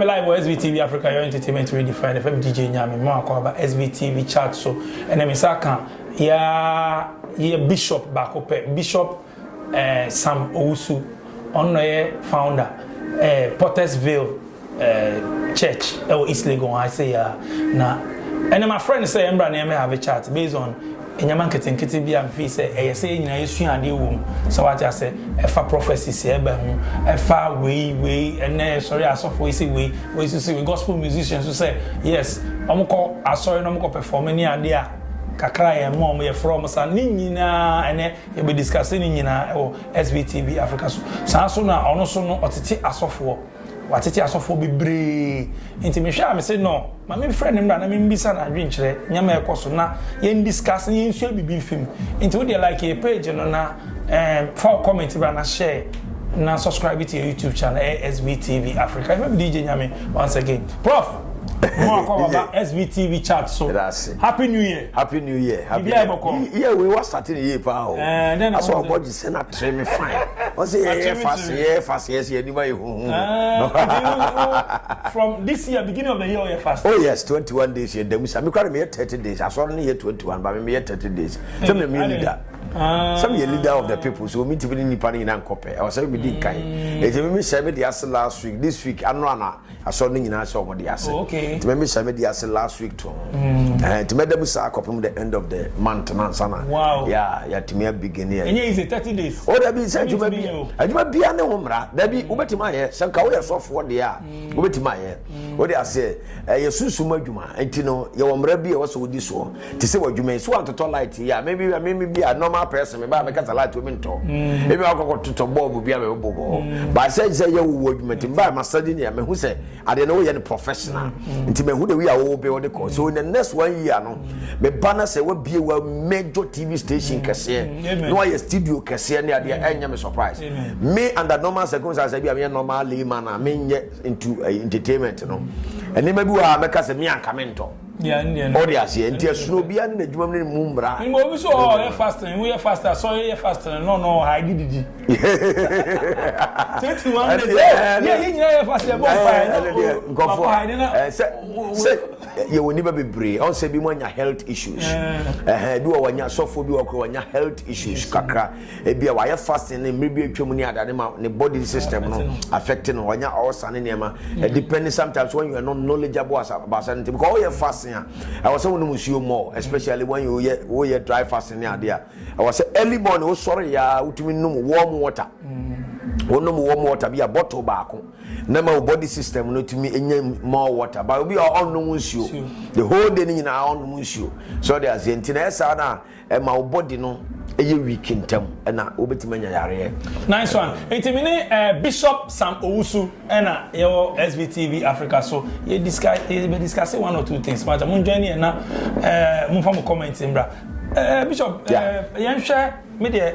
Ply wɔ SBTV Africa Your Entertainment Redefined ɛfɛ me DJ Nyame mma wakɔ aba SBTV chart so ɛnɛ me sa ka ya yɛ bishop baako pɛ bishop eh, Sam Owusu ɔno na yɛ founder eh, Pottersville eh, church ɛwɔ East Legon ha sɛ ya na ɛnɛ ma friend sɛ ɛmbra na ɛmɛ have a chat based on Nneɛma nketenkete bi a mifii sɛ ɛyɛ sɛ yɛn nyinaa yesua ade wom, sɛ wate ase, ɛfa prophecy sɛ ɛba ho, ɛfa wei, wei, ɛnnɛ yɛsɔre a asɔfo yi se wei, wei nso se wei, gospel musicians nso sɛ yes, wɔkɔ asɔre na wɔkɔ perform ne ade a, kakra a yɛma wɔn, yɛfrɛ wɔn saa, ne nyinaa ɛnnɛ yɛbɛ discuss ne nyinaa wɔ SBTV Africa so. Saa nso na ɔno nso no ɔtete asɔfoɔ. Watete asɔfoɔ bebree, nti me hwɛ a me se no ma me frɛ no mmra na me mbisa no adwen kyerɛ nneɛma a ɛkɔ so na yɛn discuss na yɛn sua bibi nfim. Nti wo deɛ like yɛ page no na eh fa wo comment bra na share na subscribe to yɛ YouTube channel ɛyɛ SBTV Africa. Ɛfɛ me DJ Nyame once again. Prof! Mo akɔ baba SBTV chat so. Happy New Year. Happy New Year. Happy New Year. Bibia ɛbɔkɔ. Yeah, we was starting year pa o. Eh, then I was. Sɛ na tre me fine. Ɔsɛ yɛ yɛ fast yɛ fast yɛ sɛ yɛ nima yɛ huhu. From this year beginning of the year ɔyɛ fast. Oh yes twenty one days yɛ damu sa. Me kura me yɛ thirty days asɔre ne yɛ twenty one ba me me yɛ thirty days. Sɛ me me leader. Sɛ me yɛ leader of the people so me ti bi ne nipa ne nyina nkɔpɛ. Ɔsɛ me di nkan. Eti me me hyɛ me de ase last week this week ano ana. Asɔre no nyinaa sɛ wɔn de ase. Nti mɛ mi hyɛ mi de ase last week to. Ɛhɛn nti mɛ da mu saa kɔpem the end of the month na nsa na. Wow. Ya ya tumi abigin yɛ. Ɛnyɛ easy thirty days. O dabi sɛ adwuma bi adwuma bia ne ho mmara dabi wo bɛtumi ayɛ sɛ nka woyɛ sɔfoɔ deɛ a wo bɛtumi ayɛ wo de aseɛ ɛyɛ sunsum adwuma nti no yɛ wɔ mmara bi a ɛwɔ sɛ wodi soɔ te sɛ w'adwuma yi so antotɔ light yi a mebi meme bi a normal person meba a mekasa light omi ntɔ mm. ebi akɔkɔ totɔ bɔɔbo bi a mebɛbɔ bɔ hɔ mm. baasɛ sɛ yɛ wowɔ adwuma nti mba ma sadi nea mehu sɛ adeɛ no woyɛ no professional mm. nti mehu de wi a wowo bɛ wɔde kɔ so in the next one year no meba na sɛ wabie wa major tv station kɛseɛ na wayɛ studio kɛseɛ ne adeɛ ɛnyɛ me surprise me under normal circumstances bi a meyɛ normal layman a menyɛ into eh, entertainment no ɛnneɛma bi wɔ a mɛka sɛ me anka mentɔ Ɔde aseɛ nti ɛsono obiara ne n'adwuma mu ne ne mu mmara. Mbɔ obi so ɔɔ yɛ fasting wo yɛ fasting asɔre yɛ fasting no no ha gye didi. Twenty one days ɛ yɛ yɛ nyinaa yɛ fasting ɛbɔ mpa yɛ na o nkɔfo ha yɛ na. Sɛ sɛ yɛ wɔ nipa bebree ɔn sɛ bi mo anya health issues ɛhɛn bi wɔ wɔ nya sɔfo bi wɔ koro wɔ nya health issues kakra. Ebia wayɛ fasting ne mmere bi a atwam ne adade ma ne body system no affect no, wanya ulcer ne nneɛma. It depends sometimes when you are not knowledgeable as about certain things because woyɛ fasting a ɛwɔ sɛ wonom nsuo more especially when you yɛ woyɛ dry fasting ne adeɛ a ɛwɔ sɛ early morning wosɔre yɛ a wotumi nom warm water. Wonom warm water bi a bottle baako na ma wo body system no tumi nya more water but obi a ɔnnom nsuo the whole day ne nyinaa ɔnnom nsuo so ɔde aseɛ nti na ɛyɛ saa no a Ɛma wo body no yɛ weak ntɛm na wobɛtumi anya yareɛ. Nice one. Nti me ne Bishop Sam Owusu na yɛwɔ SBTV Africa so yɛ discuss yɛ bɛ discuss one or two things. Mata mo join yɛn na mo fa mo comments mbra. Bishop yɛn hwɛ me deɛ.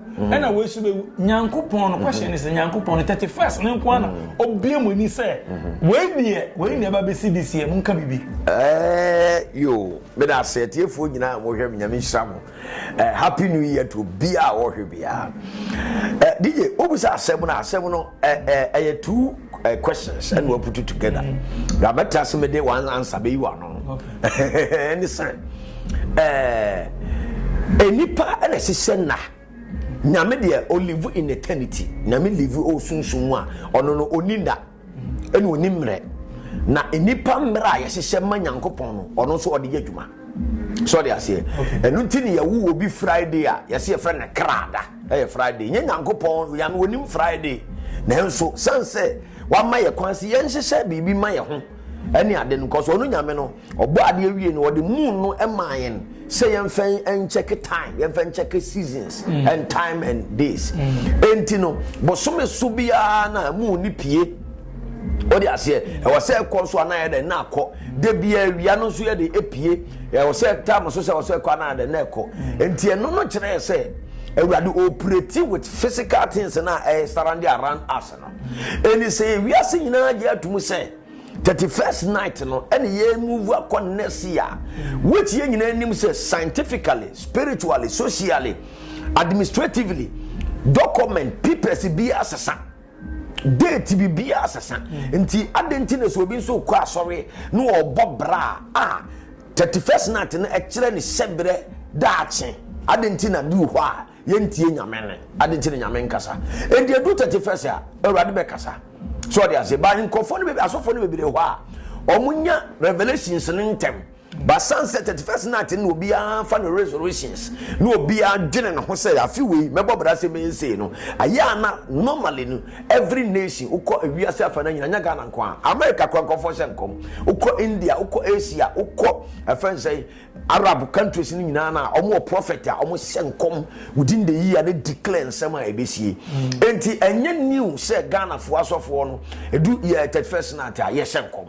ɛna wei so bɛwu nyankopɔn no kwahyɛ ne sɛ nyankopɔn no 31st no nko ana ɔbie mu ani sɛ wei deɛ wei na ɛba bɛsi de siɛ monka biribi yo meda ase atiefoɔ nyinaa mohwɛ me nyame nhyira mo happy new year to biaa wɔhwɛ biaa dj wobu sɛ asɛm no asɛm no ɛyɛ too uh, questions ɛna wa put together mm-hmm. na bɛtɛ ase mi de one answer bɛyi wa no ɛne sɛ ɛɛ eh, nipa ɛna ɛsesɛ nna nyame deɛ olive in eternity nyame live o sunsun mu a ɔno no oni nda ɛna oni mmerɛ na nipa mmerɛ a yɛhyehyɛ ma nyankopɔn no ɔno nso ɔde yɛ adwuma. so de aseɛ ɛno nti ne yɛwo wɔ bi friday a yɛsɛ yɛfrɛ no krada ɛyɛ friday nyɛ nyankopɔn yame wɔnim friday nanso sane sɛ wama yɛ kwan sɛ yɛnhyehyɛ biribi ma yɛ ho ɛne ade no nkɔ so ɔno nyame no ɔbɔ adeɛ wie no ɔde moon no ɛmaa yɛn sɛ yɛmfa nkyɛke time yɛmfa nkyɛke seasons mm. and time and days mm. enti no bosome so biara na moon ne pie ɔde aseɛ ɛwɔ sɛ ɛkɔ so anayɛ dɛ na akɔ Da biara awia no nso yɛde epie. Ɛwɔ sɛ tam so sɛ ɔsɛ ɛkɔ anaa dɛ na ɛkɔ. Nti ɛno no kyerɛɛ sɛ Awurade operate with physical things na ɛyɛ surround around us no. Ɛni sɛ wiase nyinaa gye atum sɛ 31st night no ɛne yɛn move akɔ next year which yɛn nyinaa nim sɛ scientifically, spiritually, socially, administratively document papers bi asesa. Date biribiara sesa. Nti adɛn nti na sɛ obi nso rekɔ asɔre na ɔrebɔ bra a, thirty first night no ɛkyerɛ ne hyɛberɛ daakye. Adɛn nti na bi wɔ hɔ a yɛntie Nyame nne? Adɛn nti na Nyame nkasa? Enti ɛdu thirty first a, Awurade bɛkasa. So ɔde ase, but nkurɔfoɔ no bebree, asɔfoɔ no bebree wɔ hɔ a, wɔnya revelations no ntɛm. Basan sɛ thirty first night no na obiara fa no resolutions na obiara dwene ne ho sɛ afe wei mɛbɔ bra sɛ mɛyɛ sei no ayɛ a na normally no every nation wokɔ ewiase afa no nyina nyɛ Ghana nko a America kora nkorɔfoɔ hyɛ nkɔm wokɔ India wokɔ Asia wokɔ ɛfɛn sɛ Arab countries no nyinaa na wɔn wɔ prophet a wɔn hyɛ nkɔm within the year ne declare nsɛm a ɛbɛsie enti ɛnyɛ new sɛ Ghanafoɔ asɔfoɔ no ɛdu yɛ thirty first night a yɛhyɛ nkɔm.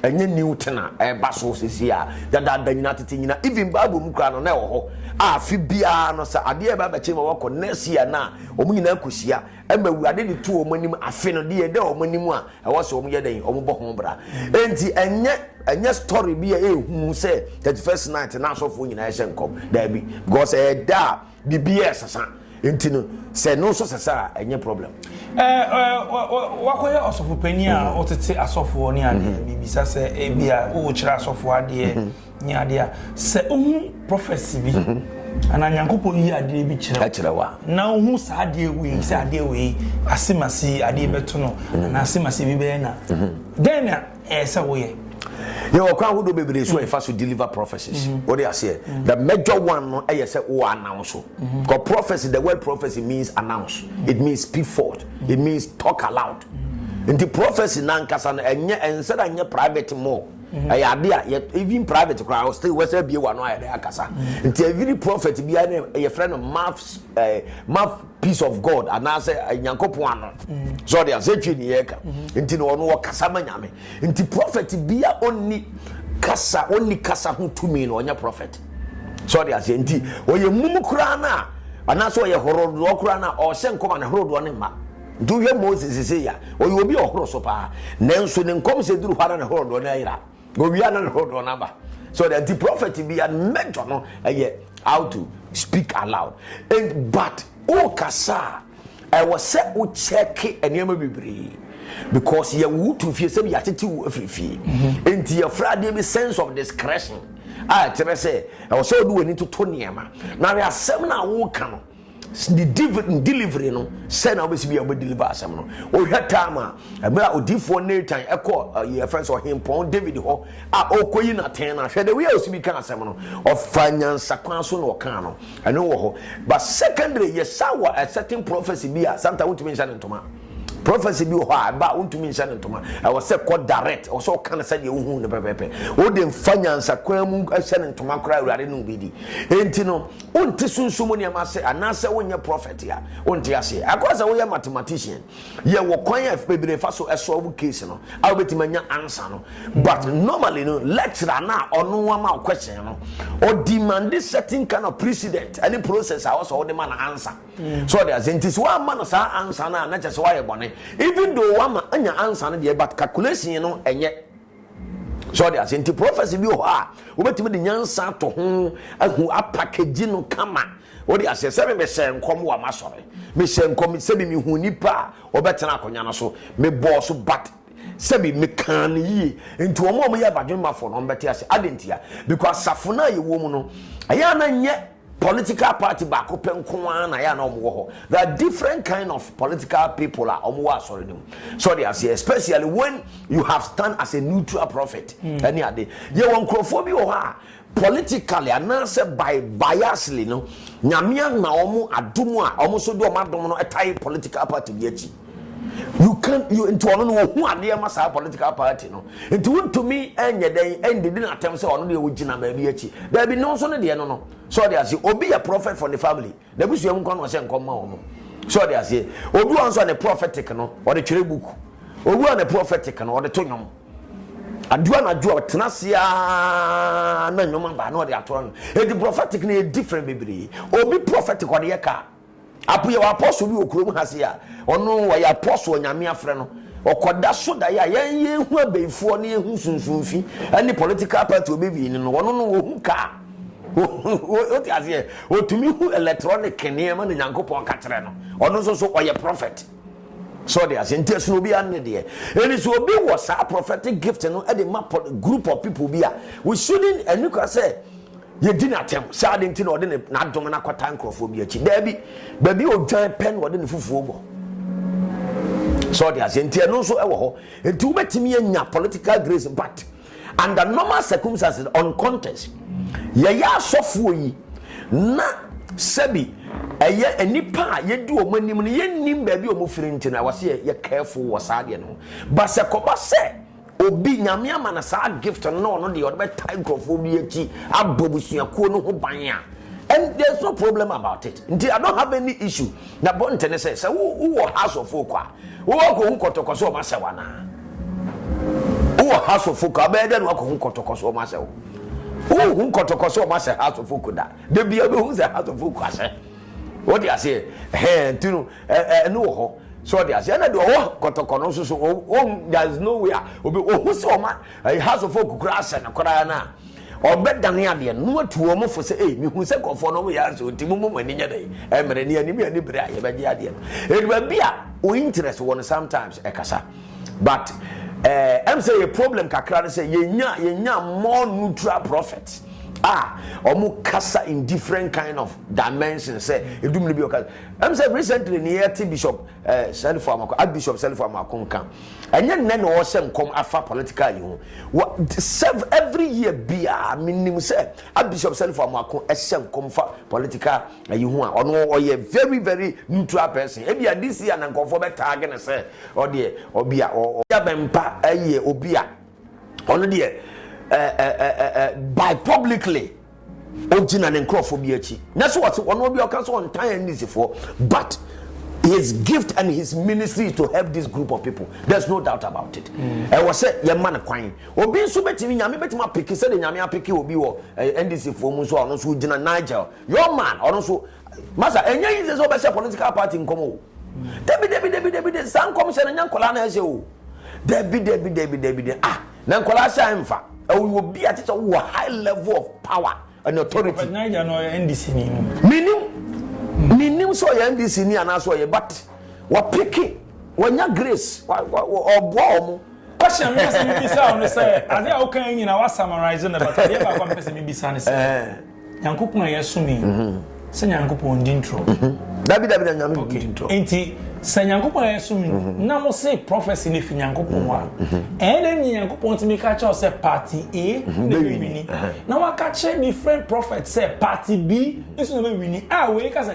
Ɛnyɛ new thing a ɛreba so seesei a dadaada nyinaa tete nyinaa even bible mu koraa no na ɛwɔ hɔ a afe biara no sɛ adeɛ ɛbɛ abɛkyɛ ma wɔkɔ next year no a wɔn nyinaa kɔhyia ɛma awurade de to wɔn anim afe no deɛ ɛda wɔn anim a ɛwɔ sɛ wɔn yɛ dɛn wɔn bɔ ho bra enti ɛnyɛ ɛnyɛ story bi a ɛhu sɛ 31st night na asɔfoɔ nyinaa ɛhyɛ nkɔm daabi because ɛda a Biribiara ɛsesa nti no sɛ no nso sesa a ɛnyɛ problem. Wakɔyɛ ɔsɔfo panyin a mhm. wotete asɔfoɔ ne adeɛ mhm. bibisa sɛ ebi a wokyerɛ asɔfoɔ adeɛ mhm. ne adeɛ a sɛ wohu prɔfɛsi bi anaa nyankopɔn yi adeɛ bi kyerɛ wa na wohu saa adeɛ wei sɛ adeɛ wei asemase adeɛ bɛto no anaa asemase bi bɛyɛ na dɛn na ɛyɛ sɛ woyɛ. Yɛwɔ kwan ahodoɔ bebree so a yɛfa so deliver prophecies. Mm-hmm. Wode aseɛ. Mm-hmm. The major one no ɛyɛ sɛ wɔ announce so. Mm-hmm. Because prophecy, the word prophecy means announce. It means speak forth. It means talk aloud. Nti prophecy nankasa no ɛnyɛ ɛnsɛ dɛ ɛnyɛ private mo. ɛyɛ ade a yɛ even private koraa still wɔsɛ bie wa no ayɛ dɛ akasa. Nti every prophet biara no yɛfrɛ no mouth ɛɛ mouth peace of god anaasɛ eh, nyankopɔn ano sɛ ɔde asɛ twe ne yɛka nti na ɔno ɔkasa ma nyame nti prɔfɛt bia ɔnni kasa ɔnni kasa ho tumi na ɔnyɛ prɔfɛt sɛ ɔde aseɛ nti ɔyɛ mum koraa no a anaasɛ ɔyɛ horodoɔ koraa no a ɔhyɛ nkɔm a ne horodoɔ no mma nti wohwɛ moses sɛ ya ɔyɛ obi ɔhoro so paa nanso ne nkɔm sɛ duru hɔ ara ne horodoɔ no ayera Owia no ne hodoɔ no aba. So the anti prophet bi a major no ɛyɛ how to speak aloud. And but o kasa ɛwɔ sɛ o check nneɛma bebree because yɛ wo tu fie sɛbi yɛatete wo afiri fie. Mm-hmm. Nti yɛfrɛ adeɛ bi sense of discretion a ɛkyerɛ sɛ ɛwɔ sɛ ɔde w'ani toto nneɛma na wɛ asɛm no a woka no ne delivery no sɛ na wobɛsi bi a wobɛdeliver asɛm no wohwɛ tam a ɛberɛ a odiifoɔ natan ɛkɔ yɛfrɛ sɛ ɔhempɔn david hɔ a ɔkɔyi natɛn no ahwɛ de wei a ɔsi bi ka asɛm no ɔfa nyansa kwan so na ɔkaa no ɛno wɔ hɔ but secondary yɛsa wɔ a certain prophecy bi a santa wontumi nhyɛ ne ntoma prophecy bi wɔ hɔ a ɛba a wontumi nhyɛ ne ntoma ɛwɔ sɛ kɔ direct ɛwɔ sɛ ɔka no sɛdeɛ wohu no pɛpɛpɛ wode mfa nyansa kwan mu hyɛ ne ntoma koraa awurade ne obi di enti no Wonte sunsum mu nneɛma ase anaasɛ wonyɛ prɔfɛt a, wonte aseɛ. Ɛkɔa sɛ woyɛ mathematician. Yɛwɔ kwan a bebree fa so solve case no a wobɛtumi anya answer no. But normally no, lecturer no a ɔno ama wo question no, ɔ demande certain kind of precedent ne process a ɛwɔ sɛ wode ma no answer. So ɔte aseɛ? Nti sɛ woamma no saa answer no a, na kyerɛ sɛ woayɛ bɔne. Even though woama anya answer no deɛ, but calculation no, ɛnyɛ. sɛ ɔde ase nti prɔfɛse bi wɔ hɔ a wobɛtumi de nyansa ato ho ahu apakagyi no kama wode aseɛ sɛ mehyɛ nkɔm wɔ masɔre mehyɛ nkɔm sɛbi mehu nnipa a wɔbɛtena akonnwa no so mebɔɔ so but sɛbi mekaa no yie nti wɔn a wɔyɛ badwemmafoɔ no wɔbɛte ase ade ntia because asafo no a yɛwɔ mu no ɛyɛ a na nyɛ Political party baako pɛ nko ara na ɛyɛ a na wɔwɔ hɔ. There are different kind of political people a wɔwɔ asɔre no mu. So ɔde aseɛ especially when you have stand as a neutral prophet ɛne hmm. ade. Yɛwɔ nkurɔfoɔ bi wɔ hɔ a politically anaasɛ by biasly no nyame ama wɔn adom a wɔn nso de wɔn adom no tae political party bi akyi. You can't you nti ɔno no ohu adeɛ ma saa political party no nti wontumi nyɛ dɛn ɛndidi no atɛm sɛ ɔno deɛ ogyina baabi akyi daabi no nso no deɛ no no sɛ ɔde aseɛ obi yɛ prophet for the family na ebusua mu nkwa na ɔhyɛ nkɔm ma wɔn sɛ ɔde aseɛ obi wɔn nso ne prophetic no ɔde twerɛ book obi wɔn ne prophetic no ɔde to nnwom aduo anadwo a ɔtena ase aa na nnwom aba na ɔde ato ano edi prophetic no yɛ different bebree obi prophetic ɔde yɛ kaa. Apo yɛ wɔ apɔso bi wɔ kurom ha se a ɔno ɔyɛ apɔso onyame afrɛ no ɔkɔda so dae a yɛn yɛn hu abɛifoɔ ne yɛn hu sunsunfi ɛne political party ɔbɛvii ne no ɔno no ɔhu kaa ɔte aseɛ ɔtumi hu electronic nneɛma na nyankopɔn ka kyerɛ no ɔno nso so ɔyɛ prophet so ɔde aseɛ nti ɛsono obi anne deɛ ɛni sɛ obi wɔ saa prophetic gift no ɛde ma group of people bi a we shouldn't ɛni kwa sɛ Yɛdi no atɛm sɛ ade nti na ɔde ne, n'adom no akɔtaa nkurɔfoɔ bi akyi. Daabi. Baabi a ɔdwan pɛ na ɔde ne fufuo bɔ. So ɔde aseɛ nti ɛno nso ɛwɔ hɔ. Nti wobɛtumi anya political grace but under normal circumstances on contest yɛyɛ asɔfoɔ yi na sɛbi ɛyɛ nnipa a yɛdi wɔn anim no yɛnnim baabi a wɔfiri nti no ɛwɔ sɛ yɛ careful wɔ saa deɛ no ho. Ba sɛ kɔba sɛ Obi, Nyame ama no saa gift no na ɔno deɛ ɔde bɛtae nkurɔfoɔ bi akyi, abɔ abusuakuo no ho ban a, and there is no problem about it. Nti I don't have any issue. Na bonte ne sɛ, sɛ wo wowɔ house of folk a, wo akɔhu kɔtɔkɔ sɛ ɔma sɛ wo anaa? Wowɔ house of folk a, wobɛyɛ dɛ na wakɔhu kɔtɔkɔ sɛ ɔma sɛ wo? Wohu kɔtɔkɔ sɛ ɔma sɛ house of folk da? Da bia wobɛhu sɛ house of folk asɛ. Wode aseɛ? Hɛn, nti no, Ɛ ɛ ɛno wɔ hɔ. So ɔte ase? Ɛna deɛ ɔwɔ kɔtɔkɔ no nso so o o there is no way a obi ohu sɛ ɔma ɛyɛ house of folk koraa asɛ no koraa no a ɔbɛdane adeɛ no na watu wɔn fo sɛ ei mehu sɛ nkurɔfoɔ no wɔyɛ asɛ ɔnti mommɔ mo ani nyɛ dɛn ɛmmere ne anim yɛ ne bere a yɛbɛgye adeɛ no ɛdu baabi a o interest wɔ no sometimes ɛkasa but eh, ɛm sɛ yɛ problem kakra no sɛ yɛnya yɛnya more neutral prophets a wɔn kasa in different kind of dimensions sɛ ɛdum no bi ɔkasa Ɛm sɛ recently ne yɛte Bishop eh, Sɛlifo Amako, Archbishop Sɛlifo Amako nka. Ɛnyɛ nnɛ na ɔhyɛ nkɔm afa political yi ho. Wa, serve every year biara menim sɛ Archbishop Sɛlifo Amako ɛhyɛ nkɔm fa political ayi ho a ɔno ɔyɛ very very neutral person. Ebia this year na nkurɔfoɔ bɛ tag no sɛ ɔdeɛ ɔbi a ɔ, ɔ, bɛmpa ɛyɛ obi a ɔno deɛ eh, eh, eh, eh, eh, by publicly. Ogyina ne nkurɔfoɔ bi akyi. Na so ɔte wɔn obi ɔka sɛ ɔntan NDCfoɔ but his gift and his ministry is to help this group of people there's no doubt about it. Mm. Ɛwɔ sɛ yɛma no kwan. Obi nso bɛtumi nyame bɛtumi apeke sɛdeɛ nyame apeke obi wɔ eh, NDCfoɔ mu nso a ɔno nso gyina Nigel your man ɔno nso masa ɛnyɛ yi sɛ sɛ ɔbɛhyɛ political party nkɔm o. Dabi dabi dabi dabi saa nkɔm hyɛ no nyɛ nkɔla na ɛhyɛ o. Dabi dabi dabi dabi ah Na nkwadaa sɛ mfa. Ɔyɛ obi a kyerɛ sɛ wɔ high level of power and authority. Kwabena agya no ɔyɛ NDC ni no. Menim menim sɛ ɔyɛ NDC ni anaasɛ ɔyɛ but wɔpeke wɔnya grace ɔboa wɔn. Question mi asɛ mi bisa ɔno sɛ ade a wokan nyina wa summarize no but adeɛ baako a mi pɛ sɛ mi bisa ne sɛ. Nyankopɔn a yɛsom yi, sɛ Nyankopɔn ndi ntorɔ? Dabi, dabi, na Nyame ndi ntorɔ. Okay, nti sɛ Nyankopɔn a yɛsom yi, na mo se prophecy no fi Nyankopɔn a, ɛyɛ dɛn na Nyankopɔn tumi ka kyerɛ wo sɛ party A na ɛbɛwini, na waka kyerɛ different prophet sɛ party B nso na ɛbɛwini, a wei ka sɛ.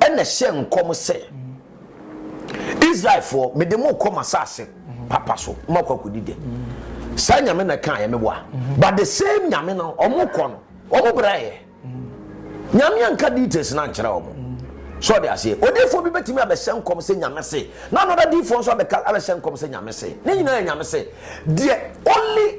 Ɛnna ɛhyɛɛ nkɔm sɛ, Israelfoɔ, mede mo rekɔ m'asase papa so, moakɔ akɔdi dɛ. Saa nyame na ɛkaeɛ, meboa. But the same nyame no, wɔkɔ no, wɔbrɛeɛ. Nyame anka details no ankyerɛ wɔn. So ɔde aseɛ, odiifoɔ bi bɛtumi abɛhyɛ nkɔm sɛ nyame se, na another diifoɔ nso abɛka abɛhyɛ nkɔm sɛ nyame se. Ne nyinaa yɛ nyame se. Deɛ only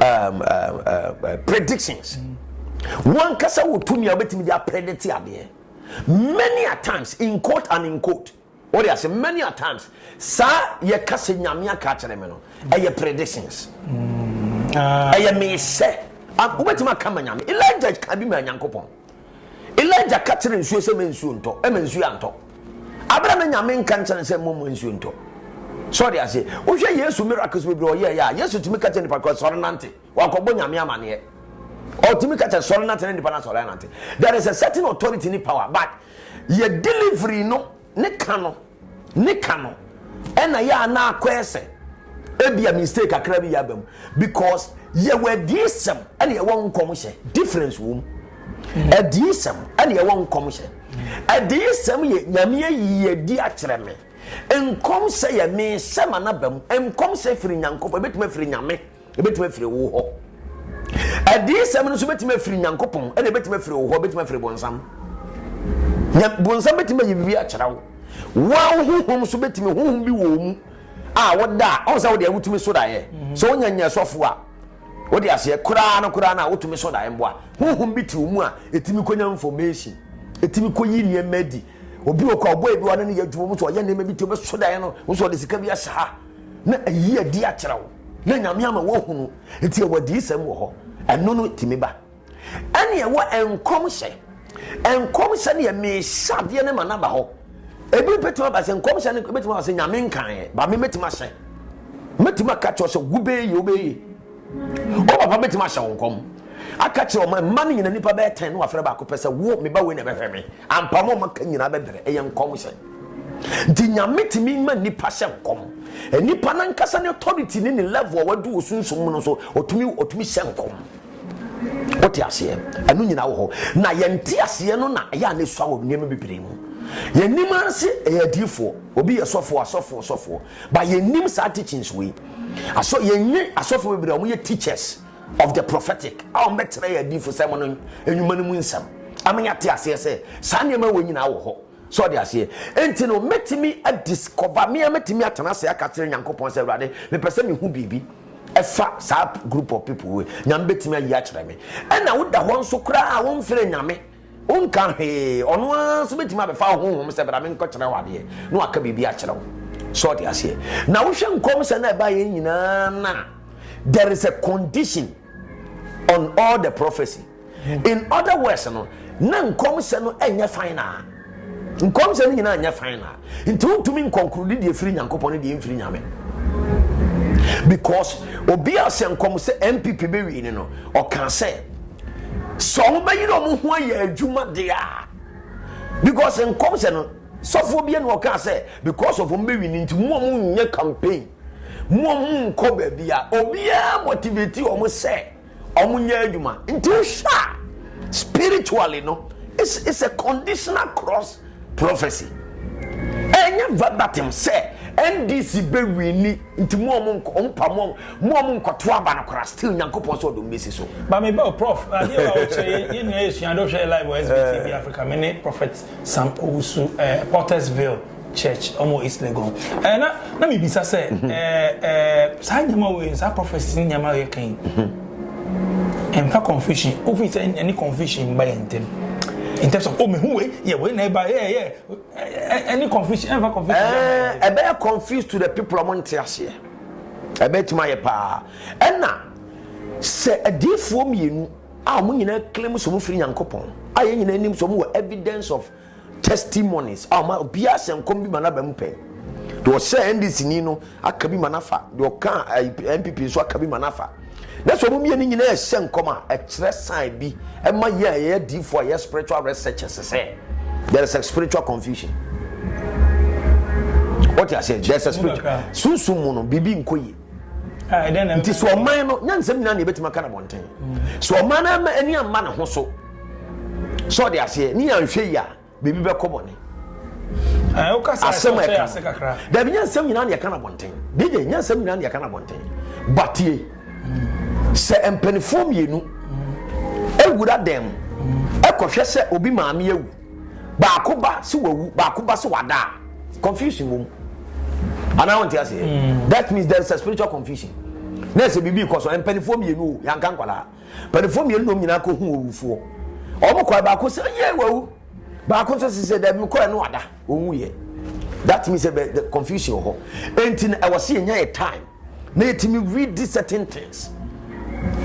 um, uh, uh, uh, predictions wankasa wɔ tumi a wobɛtumi de apredete adeɛ many a times in court and in court wɔde ase many a times saa yɛka sɛ nyame aka kyerɛ me no ɛyɛ predictions ɛyɛ mehyɛ wobɛtumi aka ma nyame elijah ka bi ma nyankopɔn Elijah ka kyerɛɛ nsuo sɛ ma nsuo ntɔ, ɛma nsuo antɔ. Abere a na Nyame nka nkyerɛ no sɛ mmɔ mmɔ nsuo ntɔ. So ɔde ase, wohwɛ Yesu miracles bebree ɔyɛɛ yɛ a, Yesu tumi ka kyerɛ nipa kɔ sɔre nante, wakɔbɔ Nyame amaneɛ. Ɔtumi ka kyerɛ sɔre nante na nipa no asɔre anante. There is a certain authority ne power, but yɛ delivery no. Ne ka no, ne ka no ɛna yɛ a na akɔyɛ sɛ ebi a mistake kakra bi yɛ aba mu because yɛwɔ adiisɛm ɛna yɛwɔ nkɔmhyɛ difference wɔ mu adiisɛm ɛna yɛwɔ nkɔmhyɛ adiisɛm yɛ nyame ayi adi akyerɛ me nkɔmhyɛ yɛ me sɛ ma na ba mu nkɔmhyɛ firi nyankopɔn ebetumi afiri nyame. Ebetumi afiri wo hɔ. Adiyisɛm no nso betumi afiri Nyankopɔn, ɛna ebetumi afiri wo hɔ, ebetumi afiri bonsam. Nya bonsam betumi ayi biribi akyerɛ wo. Wɔn honhom nso betumi honhom bi wɔ mu a woda a ɔn sɛ wode awotumi so daeɛ. Mhm. Sɛ wonya nya sɔfo a wode aseɛ koraa no koraa no a wotumi so daeɛ mboa. Honhom bi te wo mu a etumi konya information, etumi koyi nneɛma adi. Obi wɔ kɔ a ɔbɔ ebi ɔne ne yɛ adwuma mu so ɔyɛ nneɛma bi ti ɔbɛso daeɛ no, wo nso ɔde sika bi ahyɛ ha. Na ayi adi akyerɛ wo, na Nyame ama woahunu, nti ɛwɔ adiyisɛm wɔ hɔ, ɛno no tumi ba. Ɛne ɛwɔ nkɔmhyɛ, nkɔmhyɛ no yɛ mehyɛ adeɛ no ma no aba hɔ. Ebi bɛtumi aba sɛ nkɔmhyɛ no bɛtumi aba sɛ Nyame nkaeɛ, ba me mɛtumi ahyɛ, mɛtumi aka kyerɛ sɛ wobɛyɛ yei, wobɛyɛ yei. Wo papa bɛtumi ahyɛ wo nkɔm aka kyerɛ ɔma mma no nyina nipa bɛyɛ tɛn na wafrɛ baako pɛ sɛ wo me ba wei na ɛbɛhwɛ me ampa ma ɔma ka nyinaa bɛbrɛ ɛyɛ nkɔm hyɛ nti nyame tumi ma nipa hyɛ nkɔm nipa no ankasa ne authority ne ne level a wadu wɔ sunsum mu no so ɔtumi ɔtumi hyɛ nkɔm wote aseɛ ɛno nyinaa wɔ hɔ na yɛnte aseɛ no na ɛyɛ a na ɛsua wɔ nneɛma bebree mu yɛnim ase ɛyɛ adiifoɔ obi yɛ sɔfoɔ asɔfoɔ sɔfoɔ ba yɛnim saa teachings wei Asɔ yɛn nye asɔfo bebree a wɔyɛ teachers of the prophetic a wɔbɛkyerɛ yɛn adiyifosɛm no nnwuma no mu nsɛm ama yɛate aseɛ sɛ saa nneɛma wɔ nyinaa wɔ hɔ. So ɔde aseɛ? Enti no, mɛtumi adiscover, me ara mɛtumi atena ase aka kyerɛ Nyankopɔn sɛ, Awurade, mepɛ sɛ mehu biribi ɛfa saa group of people wei. Nyame bɛtumi ayi akyerɛ me. Ɛna woda hɔ nso koraa a womfrɛ Nyame. Wonka hwee, ɔno ara nso bɛtumi abɛfa wo honhom sɛ bra menkɔkyerɛ wo adeɛ na waka biribi akyerɛ wo. So ɔde aseɛ? Na wohwɛ nkɔm sɛ na ɛbaeɛ nyinaa na there is a condition on all the prophecy. In other words no, na nkɔm sɛ no ɛnyɛ final. Nkɔm sɛ no nyinaa nyɛ final. Nti wontumi nkɔnkorodi deɛ firi Nyankopɔn ne deɛ mfiri Nyame. Because obi a sɛ nkɔm sɛ NPP bɛwie ne no, ɔka sɛ sɛ ɔmo bɛyere ɔmo ho ayɛ adwuma deɛ a because nkɔm sɛ no sɔfoɔ bi ɛna ɔkaa sɛ because of ɔmo bɛwi ne nti mu ɔmo nyɛ campaign mu ɔmo nkɔ baabi a obiara motivate ɔmo sɛ ɔmo nyɛ adwuma nti wohwɛ a spiritually no it's, it's a conditional cross Prophecy ɛnyɛ verbatim sɛ NDC bɛ wini nti mu ɔmo nkɔ ɔmo pa mu mu ɔmo nkɔto aba no kora still nyankopɔn sɛ ɔdom bɛsi so. Maame bɛ o prof adeɛ wa ɔkyerɛ yɛ nyina yɛ sua de ɔhwɛ yɛ live wɔ SBTV eh. Africa me ne prophet Sam Owusu eh, Pottersville church ɔmo East Legon eh, na na mebisa sɛ mhm. eh, eh, saa nneɛma wei saa prophecies ne nneɛma yɛ kan yi mhm. Ɛmfa confusion o fi sɛ ɛne confusion mba yɛn ntam. In terms of oh mehu wei yɛ wei na ɛba yɛ yɛ ɛne confusion ɛmfa confusion. Ɛɛ ɛbɛyɛ confused to the people ɔmo nte aseɛ ɛbɛtumi ayɛ paa ɛna sɛ adiifoɔ mmienu a ɔmo nyinaa claim sɛ ɔmo firi Nyankopɔn a yɛn nyinaa nim sɛ ɔmo wɔ evidence of Testimonies a ɔma obiara hyɛ nkɔm bi ma n'aba mu pɛ. Deɛ ɔhyɛɛ NDC ni no aka bi ma n'afa, deɛ ɔkaa eh, NPP nso aka bi ma n'afa. Na sɛ wɔn mmienu nyinaa ɛhyɛ nkɔm a, ɛkyerɛ sign bi ɛma yɛn a yɛyɛ diifoɔ a yɛyɛ spiritual researchers sɛ there is a spiritual confusion. Wɔte aseɛ, there is a spiritual. Sunsum mu no, biribi nkɔ yie. Ah, nti sɛ ɔman no nyansɛm nyinaa na yɛbɛtumi aka no abɔnten sɛ ɔman no ama ani amma ne ho so sɛ ɔde aseɛ ne yɛanhwɛ yi a biribi bɛkɔ bɔne ah, asɛm a ɛka dabi nyansɛm nyinaa na yɛka no abɔnten dede nyansɛm nyinaa na yɛka no abɔnten batie sɛ mpanifoɔ mmienu awura dɛm ɛkɔhwɛ sɛ obi maame awu baako ba sɛ wawu baako ba sɛ wada a confusion wɔ mu anaa wɔn ti ase mm. that means there is a spiritual confusion na ɛsɛ biribi kɔ so mpanimfoɔ mmienu o yanka nkwadaa mpanimfoɔ mmienu nom nyinaa kɔ hu owufoɔ wɔn kɔ baako sɛ yɛ wawu baako nso sɛ dɛbi mi kɔɛ no wada wɔn wu yɛ that means ɛbɛ the confusion wɔ hɔ eti na ɛwɔ se yɛn nyɛ yɛ time na yɛtumi redi certain things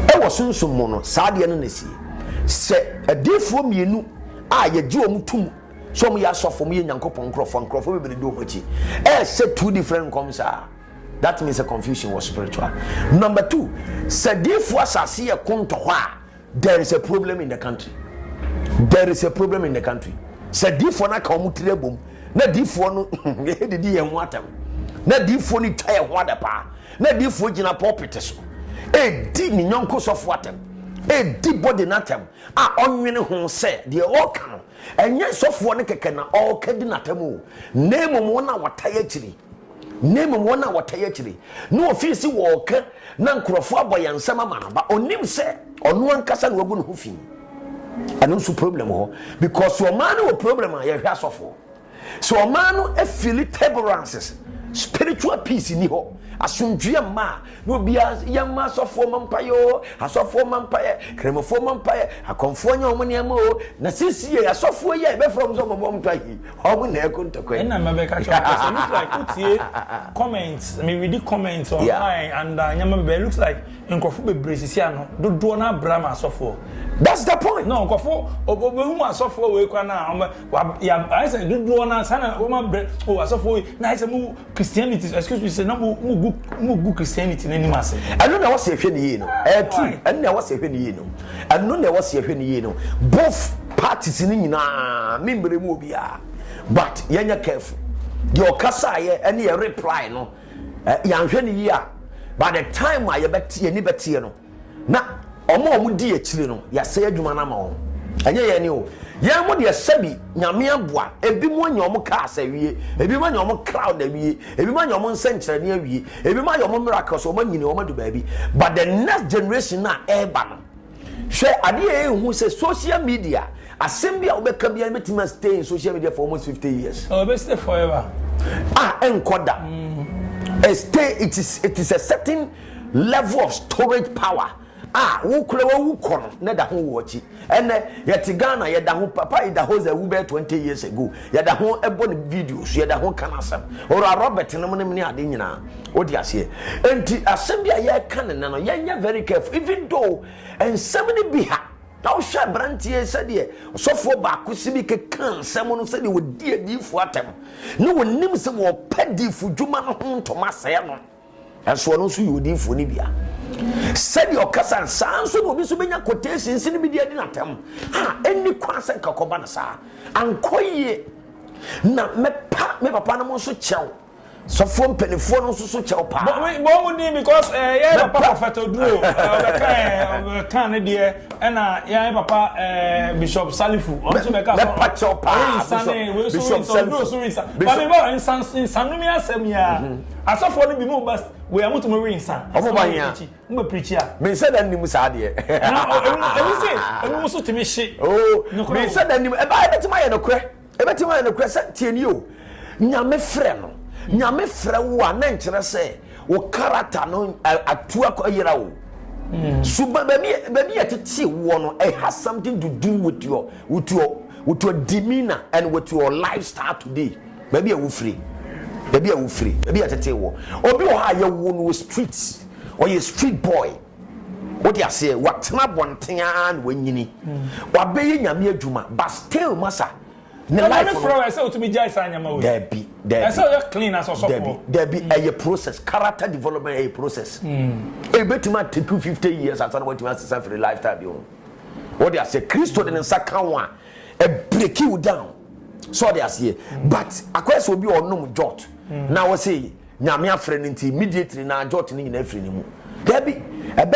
ɛwɔ sunsum mu no saa adeɛ no na ɛsie sɛ adiifoɔ mmienu a yɛgye wɔn tum sɛ wɔn yɛ asɔfo wɔn yɛ nyankopɔn nkurɔfoɔ nkurɔfoɔ bebree di wɔn akyi ɛɛhyɛ two different nkɔm saa that means a confusion was spiritual number two sɛ adiifoɔ asase yɛ ko ntɔhɔ a There is a problem in the country. There is a problem in the country. Sɛ diifoɔ no aka wɔn tiri abom na diifoɔ no didi yɛn ho atɛm na diifoɔ no twa yɛn ho ada paa na diifoɔ gyina pɔpete so edi ne nyɔnko sɔfo atɛm edi bɔde n'atɛm a ɔnwene ho sɛ deɛ ɔka no ɛnyɛ sɔfoɔ no kɛkɛ na ɔka di n'atɛm o na mmom wɔn a wɔta yɛ akyiri na mmom wɔn a wɔtaa yɛ akyire. Na wɔfiri se wɔreka, na nkurɔfoɔ abɔ yɛn nsam ama no, but ɔnim sɛ ɔno ankasa na wagu ne ho fi. Ɛno nso problem wɔ hɔ, because sɛ ɔmaa no wɔ problem a, yɛhwɛ asɔfoɔ. Sɛ ɔmaa no afili taborances, spiritual peace nni hɔ, asomdwoeɛ mma a, Na obiara, yɛn mma asɔfoɔ mmɔ mpaeɛ oo, asɔfoɔ mmɔ mpaeɛ, Kramofoɔ mmɔ mpaeɛ, akɔmfoɔ nyɛ wɔn nneɛma oo, na seesei asɔfoɔ yi a yɛbɛfrɛ wɔn sɛ wɔmmɛbɔ wɔn mpaeɛ yi, wɔn na ɛreko ntɔkwa yi. Ɛna mɛbɛka kyerɛ wɔn sɛ, look like wotie comment, me readi comment online and uh, nneɛma bɛbɛ, looks like nkurɔfo bebree sisi ano, dodoɔ no abra ma asɔfoɔ. That's the point. No, nkurɔfo, obehu asɔfoɔ wei kwan a, wɔn, ayɛ sɛ dodoɔ no, saa na wɔn abrɛ, o oh, asɔfoɔ yi, na ayɛ sɛ mo, Christianity excuse me sɛ na mo mo gu mo gu Christianity n'anim ase. ɛno na ɛwɔ sɛ yɛhwɛ no yie no ɛyɛ true ɛno na ɛwɔ sɛ yɛhwɛ no yie no ɛno na ɛwɔ sɛ yɛhwɛ no yie no both parties no nyinaa me mmerɛ mu obiara but yɛnyɛ careful deɛ ɔkasaeɛ ɛne yɛ reply no yɛanhwɛ no yie a by the time a yɛbɛte yɛni bɛteɛ no Na wɔn a wɔdi akyire no, Yɛasɛe adwuma no ama wɔn. Ɛnyɛ yɛn ni o. Yɛn mo deɛ, sɛbi, Nyame aboa, ebinom anya wɔn cars awie, ebinom anya wɔn crowd awie, ebinom anya wɔn nsɛnkyerɛnne awie, ebinom ayɛ wɔn miracles, wɔn anyini, wɔn adu baabi. But the next generation no a ɛreba no, hwɛ adeɛ a yɛnhu sɛ social media, asɛm bi a wobɛka biara no bɛtumi a stay in social media for almost 50 years. Oh, ɛbɛ stay forever. Ah, ɛnkɔ da. Mm. It is, it is a certain Level of storage power a wo kora wawu kɔ no na da ho wo akyi ɛnɛ yɛte Ghana yɛda ho papa Idahosa awu bɛyɛ 20 years ago yɛda ho ɛbɔ ne videos yɛda ho ka n'asɛm ɔra Robert nom nom ne ade nyinaa wode aseɛ enti asɛm bi a yɛka ne nɛ no yɛnyɛ very careful even though nsɛm no bi ha na wohwɛ aberanteɛ sɛdeɛ ɔsɔfoɔ baako si bi keka nsɛm no sɛdeɛ wɔdi adiifoɔ atɛm ne wɔnim sɛ wɔpɛ diifo dwuma no ho ntoma sɛɛ no Nanso ɔno nso yɛ odiyifoɔ no bi. A Sɛdeɛ ɔkasa no, saa ara nso na obi nso bɛnya quotations no bi de adi no atɛm. A Ɛnni kwan sɛ nka kɔba no saa. Ankɔ yie. Na mɛpa me papa nom nso kyɛw. Sɔfoɔ mpanimfoɔ no nso so kyɛw paa. Bɔ wo din because eh, yɛn papa Mɛpa. prɔfɛt oduro eh, ɔbɛka eh, ɔbɛka ne deɛ ɛna yɛn papa eh, bishop salifu ɔno nso bɛka sɛ Mɛpa kyɛw paa, ɔyɛ nsa ne Bishop- wei so Bishop nsa oduro Salifu. so nsa Bishop- bami bɔ nsa nsanumi asɛm yia. asɔfoɔ no bi mo ba wei a mo tumi we nsa. ɔmo ba hia mo bɛ pirikyi a. mi nsa da nim saa deɛ. na ebi se ebi mo so tumi hye. oo oh, mi nsa da nim ɛbaa ebi tumi ayɛ no korɛ ebi tumi ayɛ no korɛ sɛ tie ni o nyame frɛ no nyame frɛ wo a na nkyerɛ sɛ wo karata no atu akɔyera o. Hmm. so baabi baabi yɛ tete woɔ no it has something to do with your with your with your demeanor and with your lifestyle today. Baabi a wofiri, baabi a wofiri, baabi a yɛtetee wɔ. Obi wɔ hɔ a yɛwoo no wɔ street, ɔyɛ street boy. Wode aseɛ, watena abɔnten ara na wanyini. Wabɛyɛ nyame adwuma, but still masa ne life no. Ɛna ne frɛ wɔ ɛsɛ otumi gyae saa nyama wɔ yi. Dabi, dabi. Ɛsɛ ɔyɛ clean as ɔsɔfoɔ. Dabi, dabi, ɛyɛ process, character development ɛyɛ process. Ebetumi a take you fifty years ansa na watumi asesa firi lifestyle bi ho. Wode aseɛ, Kristo de ne nsa ka wo a, ɛ break you down so ɔde aseɛ but akɔyɛ sɛ obi a ɔnom jot hmm. na ɔsɛ nyame afrɛ no nti immediately na jot no nyinaa firi ne mu daabi ɛbɛ